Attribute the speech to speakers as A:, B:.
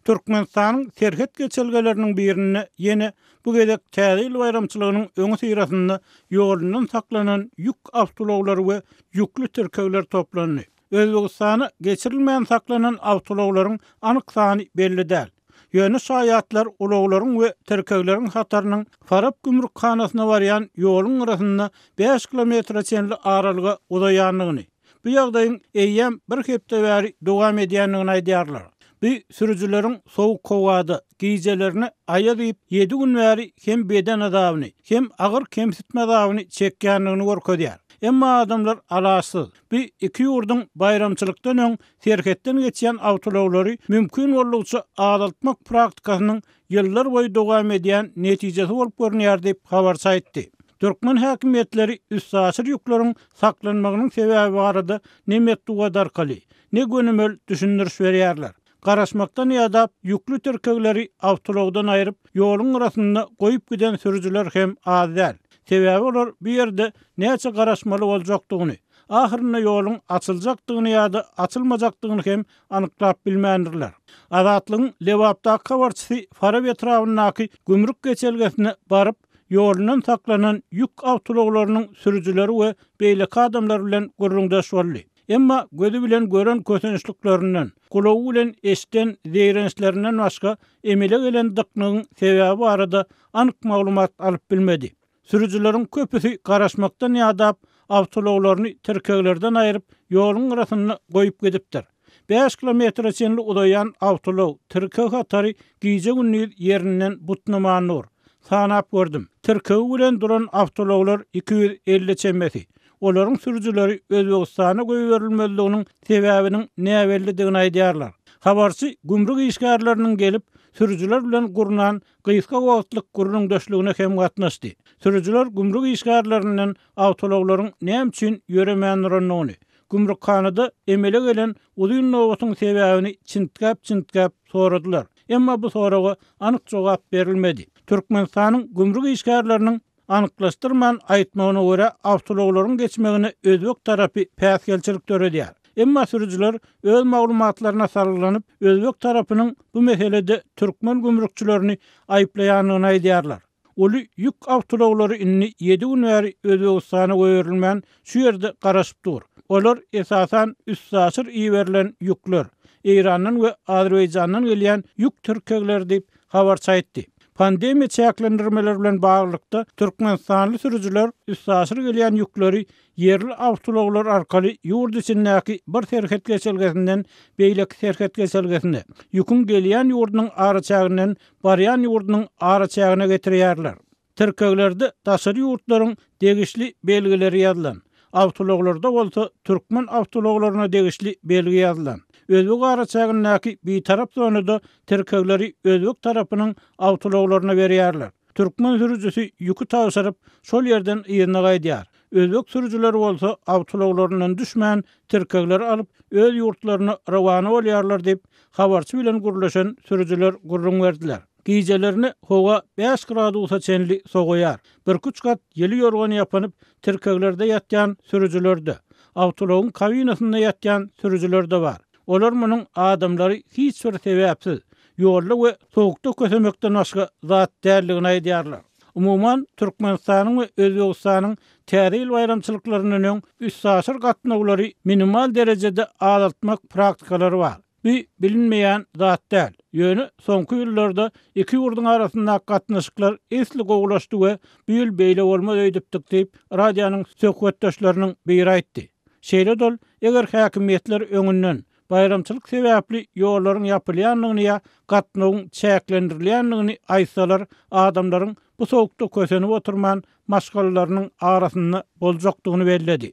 A: Türkmenistanyň serhet geçelgeleriniň birinde ýene bu gezek Täze ýyl baýramçylygynyň öňüsyrasynda ýolundan saklanan ýük awtoulaglary we ýükli tirkegler toplandy. Özbegistana geçirilmän saklanan awtoulaglaryň anyk sany belli däl. Ýöne şaýatlar ulaglaryň we tirkegleriň hatarynyň Farap gümrükhanasyna barýan ýoluň gyrasynda bäş kilometre çenli aralyga uzaýandygyny, Bu ýagdaýyň eýýäm bir hepde bäri dowam edýändigini aýdýarlar. Bu sürüjileriň sowuk howada, gijelerine aýaz iýip, ýedi gün bäri hem beden azabyny, hem agyr kemsitme azabyny çekýändigini görkezýär. Emma adamlar alaçsyz. Bu iki ýurduň baýramçylykdan öň serhetden geçýän awtoulaglary mümkin boldugyça azaltmak praktikasynyň ýyllar boýy dowam edýän netijesi bolup görünýär diýip, habarçy aýtdy. Türkmen häkimiýetleri üstaşyr ýükleriň saklanmagynyň sebäbi barada ne metbugat arkaly, ne gönümel düşündiriş berýärler. Garaşmakdan ýadap, ýükli tirkegleri awtoulagdan aýryp, ýoluň gyrasynda goýup giden sürüjiler hem az däl. Sebäbi olar bu ýerde näçe garaşmaly boljakdygyny, ahyrynda ýoluň açyljakdygyny ýa-da açylmajakdygyny hem anyklap bilmändirler. Azatlygyň Lebapdaky habarçysy Farap etrabyndaky gümrük geçelgesine baryp, ýolundan saklanan ýük awtoulaglarynyň sürüjileri we beýleki adamlar bilen gürrüňdeş boldy. Emma gözi bilen gören kösençliklerinden, gulagy bilen eşiden zeýrençlerinden başga emele gelen dyknygyň sebäbi barada anyk maglumat alyp bilmedi. Sürüjileriň köpüsi garaşmakdan ýadap, awtoulaglaryny tirkeglerden aýryp, ýoluň gyrasynda goýup gidipdir. Bäş kilometre çenli uzaýan awtoulag, tirkeg hatary gije-gündiz ýerinden butnaman dur. Sanap gördüm. Tirkegi bilen duran awtoulaglar iki ýüz elli çemesi. Olaryň sürüjileri Özbegistana goýberilmezliginiň sebäbiniň näbellidigini aýdýarlar. Habarçy gümrük işgärleriniň gelip, sürüjiler bilen gurnan gysga wagtlyk gürrüňdeşligine hem gatnaşdy. Sürüjiler gümrük işgärlerinden awtoulaglaryň näme üçin ýöremän durandygyny, gümrükhanada emele gelen uzyn nobatyň sebäbini çintgäp-çintgäp soradylar. Emma bu soraga anyk jogap berilmedi. Türkmenistanyň gümrük işgärleriniň Anyklaşdyrman aýtmagyna görä, awtoulaglaryň geçmegine özbek tarapy päsgelçilik döredýär. Emma sürüjiler öz maglumatlaryna salgylanyp, özbek tarapynyň bu meselede türkmen gümrükçilerini aýyplaýandygyny aýdýarlar. Uly ýük awtoulaglary indi ýedi gün bäri Özbegistana goýberilmän, şu ýerde garaşyp dur. Olar, esasan, üstaşyr iberilen ýükler, Eýrandan we Azerbaýjandan gelýän ýük tirkegleri diýip, habarçy aýtdy. Pandemiýa çäklendirmeleri bilen baglylykda, türkmenistanly sürüjiler üstaşyr gelýän ýükleri ýerli awtoulaglar arkaly ýurt içindäki bir serhet geçelgesinden beýleki serhet geçelgesine, ýüküň gelýän ýurdunyň araçäginden barýan ýurdunyň araçägine getirýärler. Tirkeglerde daşary ýurtlaryň degişli belgileri ýazylan, awtoulaglarda bolsa türkmen awtoulaglaryna degişli belgi ýazylan. Özbek araçägindäki bitarap zonada tirkegleri özbek tarapynyň awtoulaglaryna berýärler. Türkmen sürüjisi ýüki tabşyryp, şol ýerden yzyna gaýdýar. Özbek sürüjileri bolsa awtoulaglaryndan düşmän, tirkegleri alyp, öz ýurtlaryna rowana bolýarlar diýip, habarçy bilen gürleşen sürüjiler gürrüň berdiler. Gijelerine howa bäş gradusa çenli sowaýar. Birküç gat ýyly ýorgan ýapynyp, tirkeglerde ýatýan sürüjiler-de, awtoulagyň kabinasynda ýatýan sürüjiler-de bar. Olar munuň adamlary hiç bir sebäpsiz, ýolda we sowukda kösemekden başga zat däldigini aýdýarlar. Umuman, Türkmenistanyň we Özbegistanyň Täze ýyl baýramçylyklaryndan öň üstaşyr gatnawlary minimal derejede azaltmak praktikalary bar. Bu bilinmeýän zat däl. Ýöne soňky ýyllarda iki ýurduň arasyndaky gatnaşyklar esli gowulaşdy we bu ýyl beýle bolmaz öýdüpdik diýip, radionyň söhbetdeşleriniň biri aýtdy. Şeýle-de ol, eger häkimiýetler öňünden, baýramçylyk sebäpli ýollaryň ýapylýandygyny ýa gatnawyň çäklendirilýändigini aýtsalar, adamlaryň bu sowukda kösenip oturman, maşgalalarynyň arasynda boljakdygyny belledi.